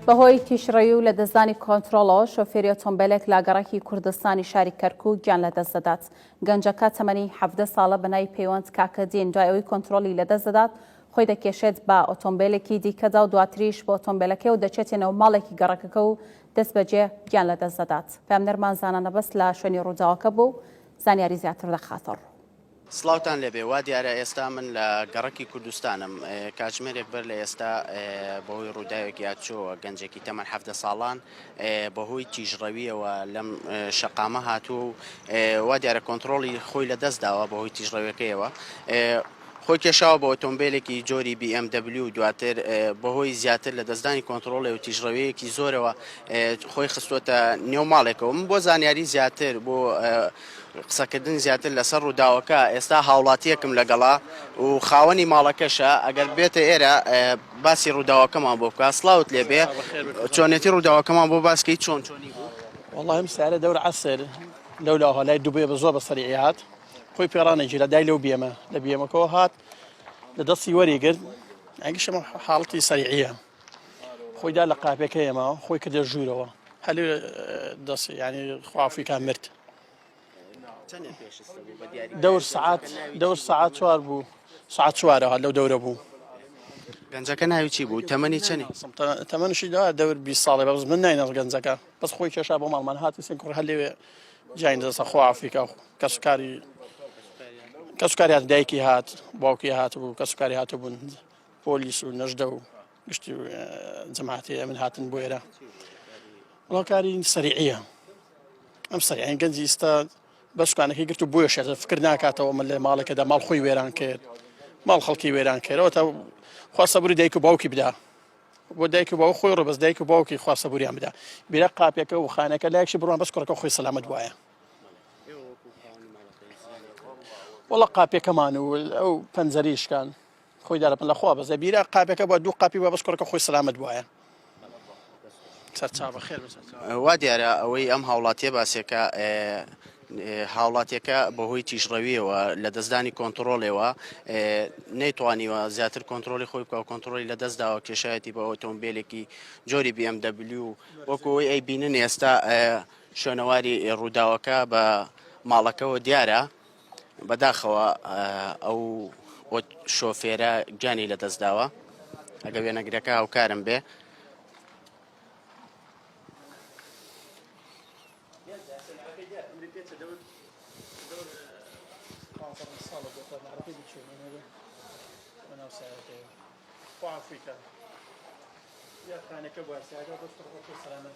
بەهۆی تیژڕەوی و لەدەستدانی کۆنترۆڵەوە شۆفێری ئۆتۆمبێلێک لە گەڕەکی کوردستانی شاری کەرکووک گیان لەدەست دەدات. گەنجەکە تەمەنی حەڤدە ساڵە بە ناوی پەیوەند کاکەدین دوای ئەوەی کۆنترۆڵی لەدەست دەدات، خۆی دەکێشێت بە ئۆتۆمبێلێکی دیکەدا و دواتریش بە ئۆتۆمبێلەکەی و دەچێتە نێو ماڵێکی گەڕەکەکە و دەستبەجێ گیان لەدەست دەدات. پەیامنێرمان زانا نەبەز لە شوێنی ڕووداوەکە بوو و زانیاری زیاتر دەخاتە ڕوو. سڵاوتان لێبێ وا دیارە ئێستا من لە گەڕەکی کوردستانم کاتژمێرێک بەر لە ئێستا بەهۆی ڕووداوێک یادچۆوە گەنجێکی تەمەەن هەفتە ساڵان بەهۆی تیژڕەویەوە لەم شەقامە هاتووە و وا دیارە کۆنتترۆڵی خۆی لە دەست داوە بەهۆی تیژڕەوەکەیەوە خۆی کێشاوە بە ئۆتۆمبیلێکی جۆری BMW دواتر بەهۆی زیاتر لە دەستدانی کۆنتترۆڵێ و تیژڕەوەیەکی زۆرەوە خۆی خستوتە نێو ماڵێکەوە من بۆ زانیاری زیاتر بۆ قسەکردن زیاتر لەسەر ڕووداوەکە، ئێستا هاوڵاتییەکم لەگەڵە و خاوەنی ماڵەکەشە، ئەگەر بێتە ئێرە باسی ڕووداوەکەمان بۆ بکات. سڵاوت لێبێ، چۆنێتی ڕووداوەکەمان بۆ باس کەی، چۆن چۆنی بوو؟ وەڵا ئەم سارە دەور عەسر لەولا هات، لای دوبەیە بە زۆر بە سەریعی هات، خۆی پێ ڕانەگیرا، دای لەو بێمە، لە بێمەکەوە هات، لە دەستی وەریگرت، ئەگشم حاڵەتی سەریعییە. خۆیدا لە قاپەکە ئێمە خۆی کردە ژوورەوە هەل دەست ینی خوافیکە مرد دەور سعات دەور سعات چوار بوو سعات چوارە هەل لەو دەورە بوو گەنجەکە ناوی چی بوو تەمەنی چنی تەمەنشی دا دەور بی ساڵی بەڕز من ناینەڕ گەنجەکە بەس خۆی کێشا بۆ ماڵمان هاتی سێن کوڕ هەلێوێ جین دەسە خۆ ئافریکا کەسکاری کەسکاری هات دایکی هات باوکی هات بوو کەسکاری هاتبوون پۆلیس و نەژدە و گشتی جەماعەتی ئەمن هاتن بۆ ئێرە ڕۆکاری سەریعە ئەم سەریعین گەنجی ئستا بەشکانەکەی گرت و بۆیە شێزە فکر ناکاتەوە من لە ماڵێکەدا ماڵ خۆی وێران کرد ماڵ خەڵکی وێران کردەوە تا خواستە بری دایک و باوکی بدا بۆ دایک و باو خۆی ڕبەست دایک و باوکی خواستە بوریان بدا بیرە قاپەکە و خانەکە لایکشی بڕوان بەس کوڕەکە خۆی سەلامت وایە وڵە قاپەکەمان و ئەو پەنجەریشکان خۆی دارە لە خوا بەزە بیرە قاپەکە بە دوو قاپی بە بەس کوڕەکە خۆی سلامت بواە سەرچاوە خێر وا دیارە ئەوەی ئەم هاوڵاتیە باسێکە هاوڵاتیەکە بەهۆی تیژڕەویەوە لە دەستدانی کۆنتترۆلەوە نەیتوانیوە زیاتر کۆنتترۆلی خۆی بکە کۆنتترۆلی لە دەستداوە کێشایەتی بە ئۆتۆمبیلێکی جۆری BMW وەکەوەی ئەی بینن ئێستا شوێنەواری ڕووداوەکە بە ماڵەکەەوە دیارە بەداخەوە ئەو شۆفێرە گیانی لە دەستداوە ئەگە وێنەگرەکە هاوکارم بێ ئەفریقا یاخانەکە باسیادا بەس سەلامەت